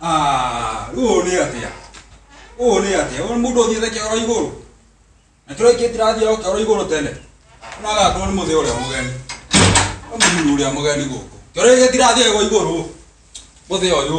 Ah, rĩu ũũ nĩ atĩa ũũ nĩ atĩa ũũ nĩ mũndũ ũthiĩte kĩoro igũrũ na kĩoro kĩ tirathiĩ o kĩoro igũrũ tene ũnagakorwo nĩ mũthĩ ũrĩa mũgeni nĩ mũthuri ũrĩa mũgeni gũkũ kĩoro gĩkĩ tirathiĩ gwa igũrũ mũthĩ ũyũ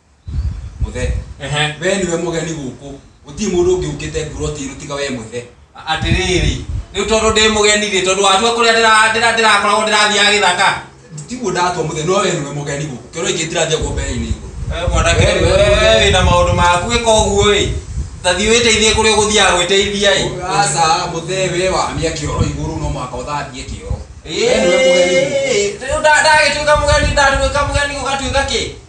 mũthe Ehe. we niwe mũgeni gũkũ gũtirĩ mũndũ ũngĩ ũkĩte ngurotĩirũ tiga we mũthe atĩrĩrĩ rĩu tondũ ndĩ mũgeni rĩ tondũ watua kũrĩa ndĩra- ndĩra- ndĩrakoragwo ndĩrathiaga gĩthaka tiguo ndatua mũthe no we niwe mũgeni gũkũ kĩoro ingĩ ndĩrathiĩ guo mbere-inĩ igũrũ Eh, mwanake We- we- we- we wĩna maũndũ maku ĩka ũguo ĩ tathi wĩteithie kũrĩa ũgũthiaga gwĩteithia ĩ aca mũthe we wamia kĩoro igũrũ no mwaka ũthambie kĩoro we niwe mũgeni gũkũ Ĩĩ, rĩu nda- ndagĩtuĩka mũgeni ndatuĩka mũgeni ũgatuĩka kĩ